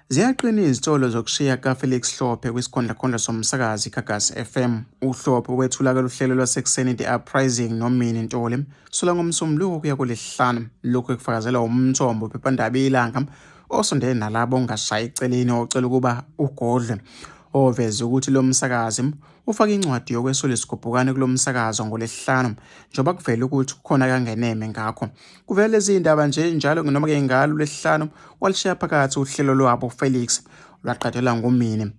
Ziyaqina izitolo zokushiya kaFelix Hlophe kwisikhondlakhondla somsakazi iGagasi FM. UHlophe wethula kaluhlelo lwasekuseni The Uprising noMini Ntoli sula ngomsombuluko kuya kolesihlanu. Lokhu ekufakazela umthombo phephandaba ilanga osondele nalabo ongashayi eceleni ocela ukuba ugodlwe oveze ukuthi lo msakazi ufake incwadi yokwesula isigubhukane kulo msakazo ngolesihlanu njengoba kuvele ukuthi kukhona kangeneme ngakho kuvele lezi zindaba nje njalo noma-ke ngalo lesihlanu walishiya phakathi uhlelo lwabo felix lwaqadelwa ngumini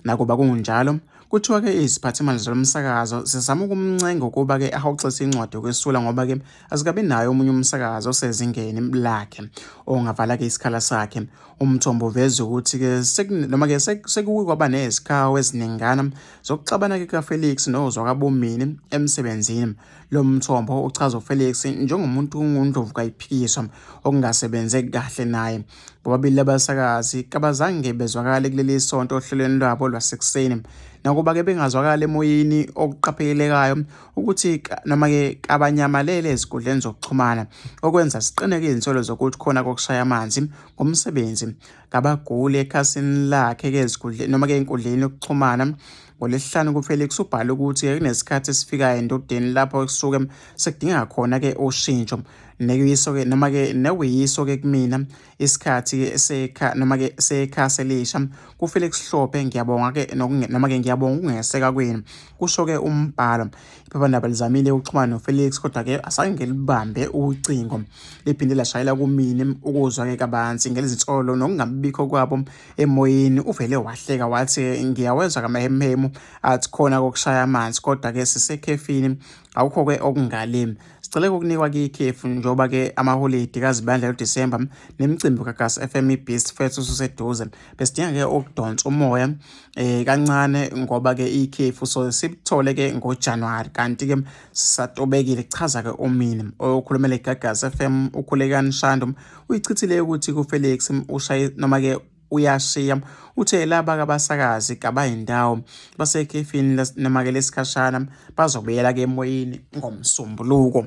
nakuba kungunjalo kuthiwa-ke iziphathimandla zalo msakazo zizama ukumncenga ukuba-ke ahoxise incwadi yokwesula ngoba-ke Asikabi naye omunye umsakazi osezingeni lakhe ongavala-ke isikhala sakhe. Umthombo uveze ukuthi-ke noma-ke sekuke kwaba nezikhawu eziningana zokuxabana-ke kukaFelix nozwakabomini emsebenzini. Lo mthombo uchaza uFelix njengomuntu ongundlovu kayiphikiswa okungasebenze kahle naye. Bobabili labasakazi kabazange bezwakale kuleli sonto ohlelweni lwabo lwasekuseni. Nakuba-ke bengazwakali emoyeni okuqaphelekayo ukuthi noma-ke kabanyamalele ezinkundleni zokuxhumana okwenza siqineke izinsolo zokuthi khona kokushaya amanzi ngomsebenzi kabaguli ekhasini lakhe-ke ezinkundleni noma-ke enkundleni yokuxhumana ngolesihlanu kufelix ubhale ukuthi kunesikhathi esifikayo endodeni lapho kusuke sekudinga khona-ke ushintsho nekuyiso-ke noma-ke nekuyiso-ke kumina isikhathi sekha noma ke sekha selisha kuFelix Hlophe ngiyabonga ke noma ke ngiyabonga ukungeseka kwenu kusho ke umbhalo iphephandaba lizamile ukuxhumana noFelix kodwa ke asange ngelibambe ucingo liphinde lashayela kumini ukuzwa ke kabanzi ngelizinsolo nokungabikho kwabo emoyeni uvele wahleka wathi ngiyawezwa kamahemhemu athi khona kokushaya amanzi kodwa ke sisekhefini Akukho-ke okungale sicele ukunikwa kikhefu njengoba-ke amaholidi kazibandla lodisemba nemicimbi kagas FM ibeast fethu ususeduze besidinga-ke ukudonsa umoya um eh, kancane ngoba-ke ikhefu so sikuthole-ke ngojanuwari kanti-ke sisatobekile kuchaza-ke umini okhulumela igagas FM ukhulekani shandu uyichithile ukuthi kufelix ushaye noma-ke uyashiya. Uthe laba kabasakazi kabayindawo basekhefini noma-ke lesikhashana bazobuyela-ke emoyeni ngoMsombuluko.